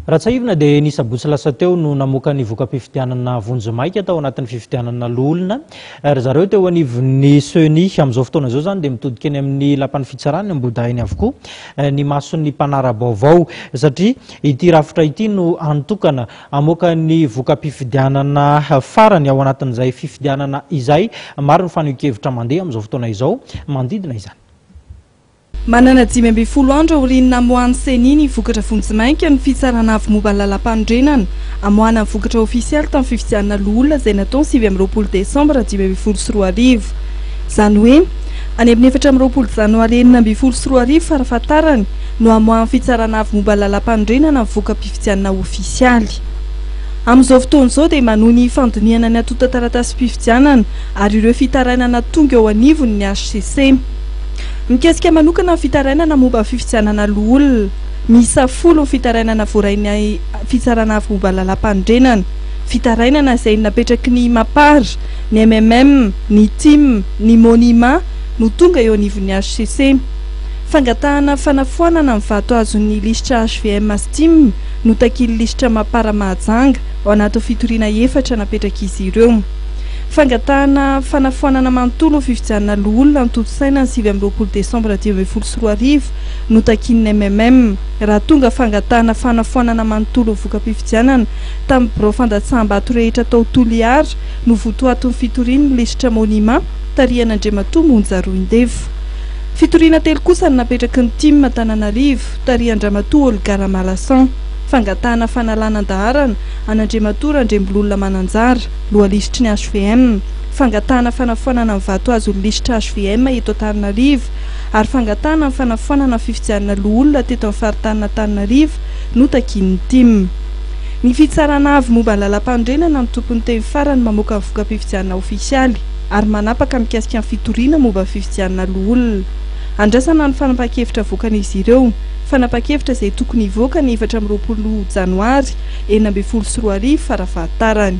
Raha tsiahivina dia ny sabotsy lasa teo no namoaka ny voka-pifidianana vonjimaika tao anatin'ny fifidianana loholona ry zareo teo anivon'ny Ceni. Amin'izao fotoana izao izany dia mitodika eny amin'ny lapan'ny fitsarana eny Ambohidahiny avokoa ny mason'ny mpanara-baovao satria ity rafitra ity no hany tokana hamoaka ny voka-pifidianana farany ao anatin'izay fifidianana izay. Maro ny fanehoan-kevitra mandeha amin'izao fotoana izao manodidina izany. Manana dimy ambin'ny folo andro aorian'ny namoahan'ny Ceni ny vokatra vonjimaika ny Fitsarana Avo momba ny Lalàmpanorenana, amoahana ny vokatra ofisialy tamin'ny fifidianana loholona izay natao ny sivy amby roapolo desambra dimy ambin'ny folo sy roa arivo. Izany hoe, any amin'ny efatra amby roapolo janoary enina ambin'ny folo sy roa arivo farafahatarany no hamoahan'ny Fitsarana Avo momba ny Lalàmpanorenana ny voka-pifidianana ofisialy. Amin'izao fotoana izao dia manohy ny fandinihana ny antontan-taratasim-pifidianana ary ireo fitarainana tonga eo anivony ny hcc. Mikasika manokana ny fitarainana momba ny fifidianana loholona, miisa folo ny fitarainana voarain'ny Fitsarana Avo Momba ny Lalàmpanorenana, fitarainana izay napetraky ny Mapar, ny mmm, ny tim, ny Monima no tonga eo anivon'ny hcc. Fangatahana fanafoanana ny vato azon'ny lisitra hvm sy tim no takian'ny lisitra Mapar Mahajanga ao anatin'ny fitoriana efatra napetrak'izy ireo. Fangatahana fanafoanana manontolo ho fifidianana loholona antontosaina ny sivy amby roapolo desambra dimy ambin'ny folo sy roa arivo notakian'ny MMM. Raha tonga fangatahana fanafoanana manontolo ho voka-pifidianana tamin'ny birao fandatsaham-bato rehetra tao Toliara no votoatin'ny fitorian'ny lisitra Monima tarihan'Andriamatoa Monja Roindefo. Fitoriana telo kosa no napetraky ny Tim Antananarivo tarihan-dRamatoa Olga Ramalasan. Fangatahana fanalana an-daharana an'Andriamatoa Randriambololona Mananjara. Lohalisitry ny hvm, fangatahana fanafoanana ny vato hazo ny lisitra hvm eto Antananarivo ary fangatahana ny fanafoanana ny fifidianana loholona teto amin'ny faritanin'Antananarivo no takian'ny tim. Ny Fitsarana Avo momba ny Lalampanorenana ny tomponteny farany mamoaka ny voka-pifidianana ofisialy ary manapaka mikasika ny fitoriana momba ny fifidianana loholona. Andrasana ny fanapahan-kevitra avoakan'izy ireo. Fanapahan-kevitra izay tokony hivoaka ny efatra amby roapolo janoary enina ambin'ny folo sy roa arivo fara fahatarany.